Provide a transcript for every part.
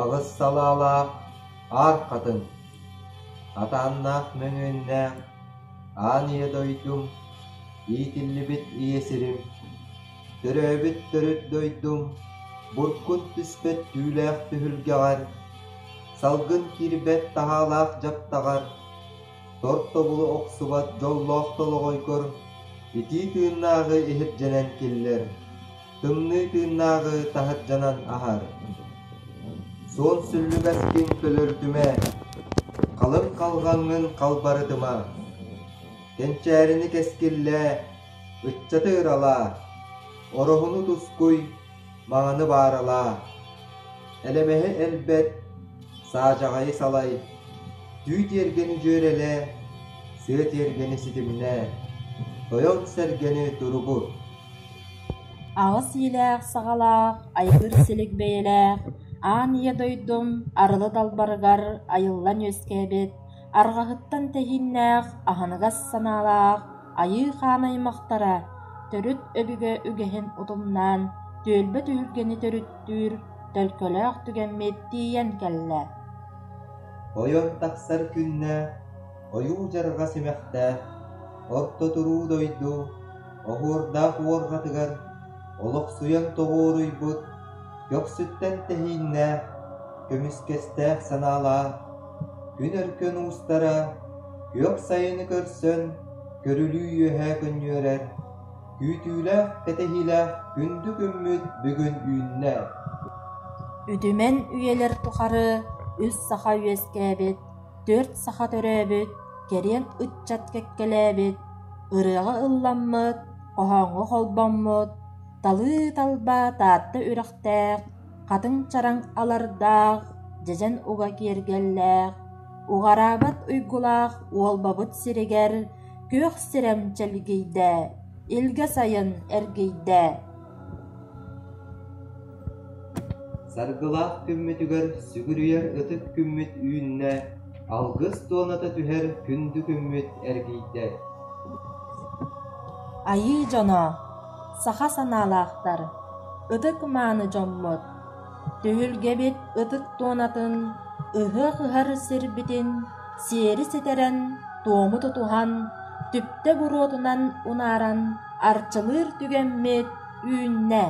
Аҕыс салаалаах аар хатыҥ, атааннаах мөҥүөннээх аан ийэ дойдум, иитиллибит ийэ сирим, төрөөбүт төрүт дойдум, буркут түспэт түүлээх түһүлгэҕэр, салгын киирбэт таһаалаах дьаптаҕар, тортобулу охсубат дьоллоох толоҕойгор итии тыыннааҕы иһирдьэнэн киллэр, тымныы тыыннааҕы таһырдьанан аһар. Суон сүллүгэскин көлөрдүмэ, халыҥ халҕаҥҥын халбарытыма. Кэнчээрини кэскиллээ, ыччаты ыралаа, ороһуну тускуй, мааны бааралаа, элэмэһи элбэт, саадьаҕайы салай, түү тиэргэни дьүөрэлээ, сыа тиэргэни ситимнээ, тойон сэргэни туругу. Аҕыс иилээх саҕалаах, айгыр силик бэйэлээх, аан ийэ дойдум арылы далбарыгар айыллан үөскээбит арҕаһыттан тэһииннээх, аһыныгас санаалаах айыы-хаан аймахтара төрүт өбүгэ үгэһин утумнаан түөлбэ түһүлгэни төрүттүүр төлкөлөөх түгэммит тиийэн кэллэ Ойон тахсар күннэ ойуу дьарҕа симэхтээх, орто-туруу дойду оһуордаах уорҕатыгар олохсуйан тоҕуоруйбут көхсүттэн тэһииннээх, көмүскэстээх санаалаах Күн өркөн уустара, күөх сайыны көрсөн, көрүлүү үөһэ көнньүөрэр, күүтүүлээх кэтэһиилээх күндү күммүт бүгүн үүннэ. Үдүмэн үйэлэр тухары үс саха үөскээбит, төрт саха төрөөбүт, кэриэн ыччат кэккэлээбит, ырыаҕа ылламмыт, хоһооҥҥо холбоммут, талыы талба Таатта үрэхтээх хатыҥ чараҥ алардаах, дьэдьэн уга киэргэллээх, уҕараабат уйгулаах уолбабыт сиригэр күөх сирэм чэлгийдэ, илгэ сайын эргийдэ Саргылаах күммүтүгэр сүгүрүйэр ытык күммүт үүннэ, алгыс туоната түһэр күндү күммүт эргийдэ. Айыы дьоно Саха санаалаахтар, ытык мааны дьоммут, түһүлгэбит ытык туонатын, ыһыах ыһар сирбитин сиэри ситэрэн, туому тутуһан, түптэ буруотунан унааран арчылыыр түгэммит үүннэ.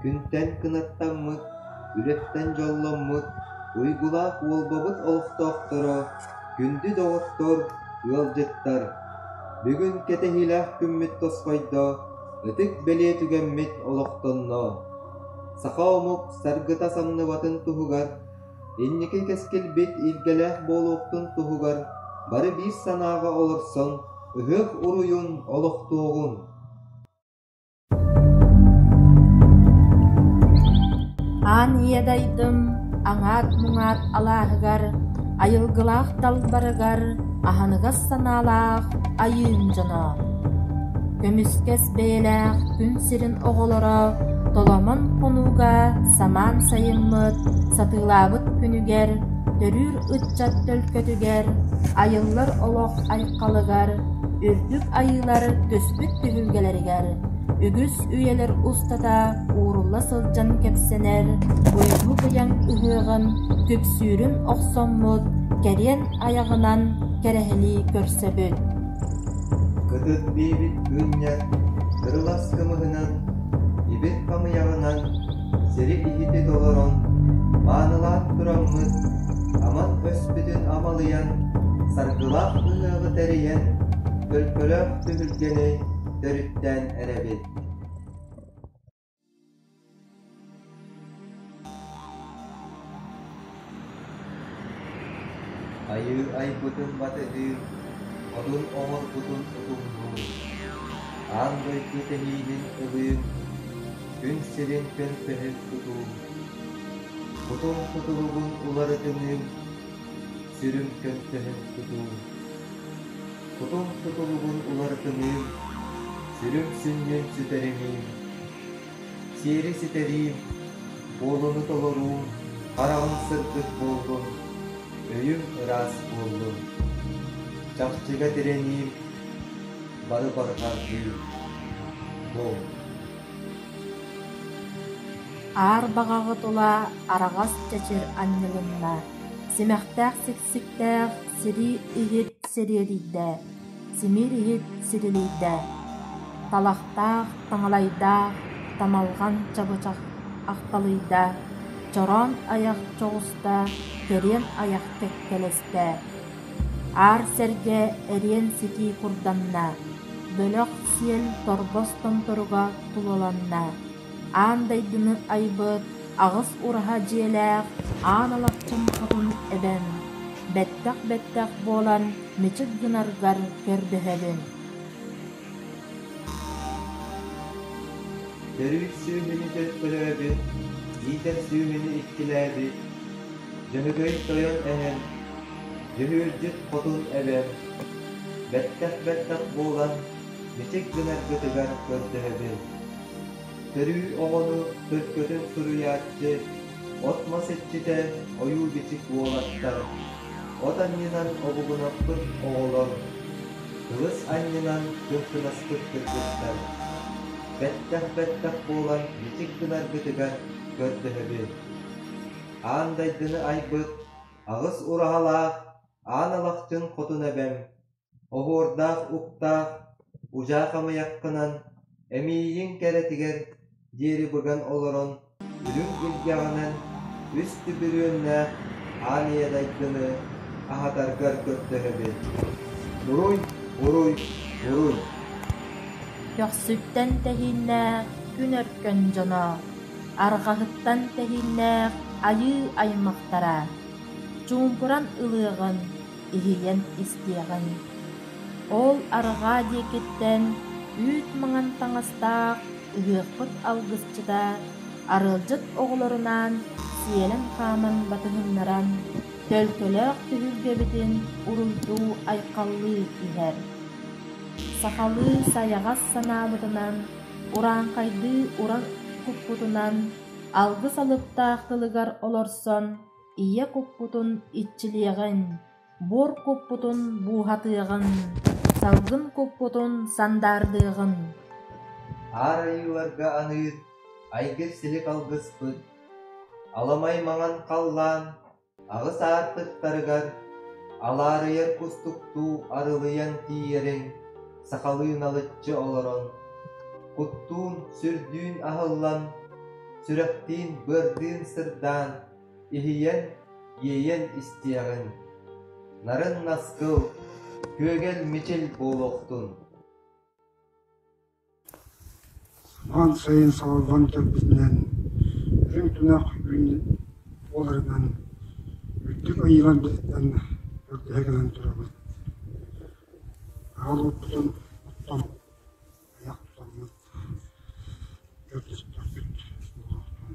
Күнтэн кынаттаммыт, үрэттэн дьолломмут уйгулаах Уолбабыт олохтоохторо, күндү доҕоттор, ыалдьыттар, Бүгүн кэтэһиилээх күммүт тосхойдо, ытык бэлиэ түгэммит олохтонно. Саха омук саргыта самныбатын туһугар, инники кэскилбит илгэлээх буолуохтун туһугар бары биир санааҕа олорсон, ыһыах уруйун олохтуоҕун! Аан ийэ дайдым аҥаат-муҥаат алааһыгар, айылгылаах талбарыгар аһыныгас санаалаах Айыын дьоно, көмүскэс бэйэлээх күн сирин оҕолоро Толомон хонууга самаан сайыммыт сатыылаабыт күнүгэр, төрүүр ыччат төлкөтүгэр, айыллар олох айхалыгар үрдүк айыылар түспүт түһүлгэлэригэр үгүс үйэлэр устата уурулла сылдьан кэпсэнэр Уйгу Быйаҥ ыһыаҕын күпсүүрүн охсоммут кэриэн айаҕынан кэрэһилии көрсөбүт Кытыт биэбит күнньэ кырылас кымыһынан Ибит хамыйаҕынан сири иһити толорон маанылаан тураммыт Аман өспүтүн амалыйан Саргылаах ыһыаҕы тэрийэн көлкөлөөх түһүлгэни төрүттээн эрэбин Айыы айбытын батыһыы, модун оҥорбутун утумнуур, аан дойду тэҥиинин ылыыр, күн сирин көнтөһүн тутуур, кутум кутуругун уларытыныы Сирим кэпсэһэн тутуум, Кутун тутулугун уларытыныым, Сүрүм сүнньүн сүтэриниим, Сиэри ситэриим, Буолуну толоруум, Хараҕым сырдык буоллун, Өйүм ыраас буоллун, Чахчыга тирэниим, Бары барҕардыым. Дом. Аар баҕаҕыт улаа араҕас чэчир анньылынна, симэхтээх сиксиктээх сирий иһит сириэдийдээ, симиир иһит сирилийдээ, талахтаах таҥалайдаах тамалҕан чабычах ахталыйдаа, чороон айах чоҕустаа, кэриэн айах кэккэлэстээ Аар сэргэ эриэн-ситии курданна, бөлөх сиэл торбос томторуга тулаланна, аан дойдуну айбыт аҕыс ураһа дьиэлээх аан Алапчым хотун эбэн, бэттэх-бэттэх буолан мичик гынаргар көрдөһөбүн Төрүүт сүүһүнү төлкөлөөбүт, иитэр сүүһүнү иккилээбит Дьөһөгөй Тойон эһэн Дьүһүөрдьүт хотун эбэр, бэттэх-бэттэх буолан, мичик гынаргытыгар көрдөһөбүн. Төрүү оҕону төлкөтүн суруйааччы, от-мас иччитэ ойуу-бичик буолаттар. От анньынан обугунаппыт оҕолор, тылыс анньынан кымсынаспыт кыргыттар. Бэттэх-бэттэх буолан мичик гынаргытыгар көрдөһөбүн. Аан дайдыны айбыт аҕыс ураһалаах аан алахчын хотун эбэм, оһуордаах уктаах удьаа хамыйаххынан эмиийин кэрэтигэр диэри быган олорон үрүҥ илгэҕинэн үс түбүрүөннээх аан ийэ дайгыны аһатаргар көрдөһөбүн. Уруй, уруй, уруй! Көхсүттэн тэһииннээх күн өркөн дьоно Арҕаһыттан тэһииннээх айыы аймахтара чуумпуран ылыаҕын, иһийэн истиэҕиҥ. Ол арҕаа диэкиттэн үүт маҥан таҥастаах ыһыахпыт алгысчыта арыалдьыт оҕолорунаан сиэлэн хааман батыһыннаран, төлкөлөөх түһүлгэбитин уруйдуу-айхаллыы иһэр. Сахалыы сайаҕас санаабытынан урааҥхайдыы уран куппутунан алгыс алыптаах тылыгар олорсон ийэ куппутун иччилиэҕиҥ, буор куппутун бууһатыаҕыҥ, салгын куппутун сандаардыаҕыҥ. Аар Айыыларга аныыр айгыр силик алгыспыт, аламай маҥан халлаан Аҕыс аартыктарыгар алаарыйар кустуктуу арылыйан тиийэрин сахалыы налыччы олорон, куттуун, сүрдүүн аһыллан, сүрэхтиин быардыын сырдаан, иһийэн, иэйэн истиэҕиҥ. Нарын наскыл, күөгэл мичил буолуохтун! Суһал сайын салаллан кэлбитинэн, үрүҥ тунах үүн буоларынан үрдүк айыылар быһыытынан бэргэһэ гынан турабыт. Аһыл уппутун оттон айах тутаммыт көрдөстөхпүт буолуохтун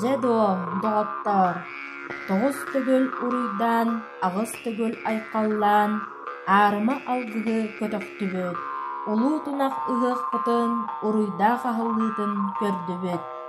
Дьэ доо, доҕоттоор, тоҕус төгүл уруйдаан, аҕыс төгүл айхаллаан, аарыма алгыһы көтөхтүбүт, улуу тунах ыһыахпытын, уруйдаах аһыллыытын көрдүбүт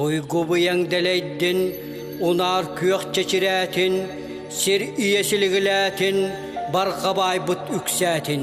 Уйгубуйаҥ дэлэйдин, унаар күөх чэчирээтин, сир ийэ силигилээтин, барҕа баайбыт үксээтин.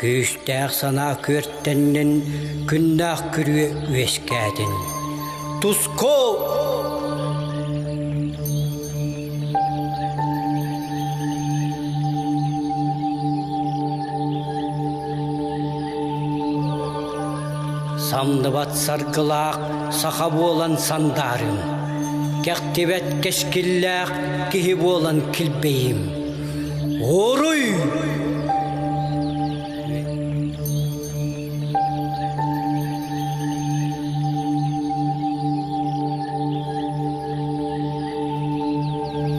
Күүстээх санаа күөртэннин, күннээх күрүө үөскээтин. Туску! Самдыбат саргылаах саха буолан сандаарым, кэхтибэт кэскиллээх киһи буолан килбэйим. Уруй!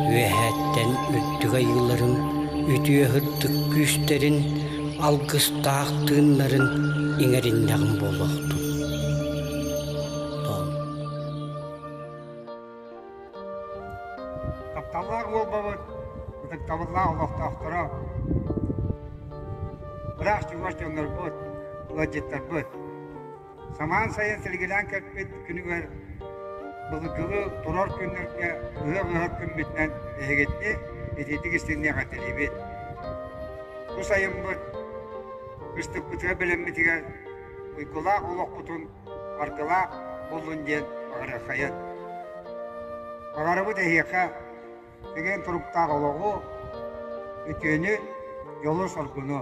Үөһээттэн үрдүк айыыларын үтүө сырдык күүстэрин, алгыстаах тыыннарын иҥэриннэҕиҥ буолуохтун. Тол Тапталлаах уолбабыт, ытыктабыллаах олохтоохторо, ыраах чугас дьоннорбут, ыалдьыттарбыт. Самаан сайын силигилээн кэлпит күнүгэр былыргылыы турар күннэргэ ыһыах-ыһыах күммүтүнэн эһигитини итиитик истиҥниэх этэлиибит. Бу сайыммыт ыстыкпытыгар бэлэммитигэр уйгулаах олохпутун Баркалаах буллун диэн аҕырыаххайыан. Баҕарабыт эһиэхэ тэгэн туруктаах олоҕу, үтүөнү, дьолу-соргуну.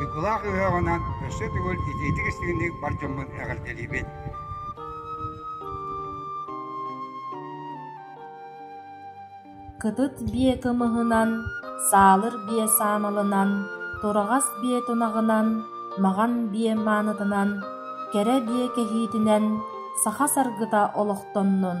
Уйгулаах ыһыаҕынан өссө төгүл итиитик-истигинник бар дьоммун эҕэрдэлиибин! Кытыт биэ кымыһынан, саалыр биэ саамалынан, тураҕас биэ тунаҕынан, маҕан биэ маанытынан, кэрэ биэ кэһиитинэн саха саргыта олохтоннун!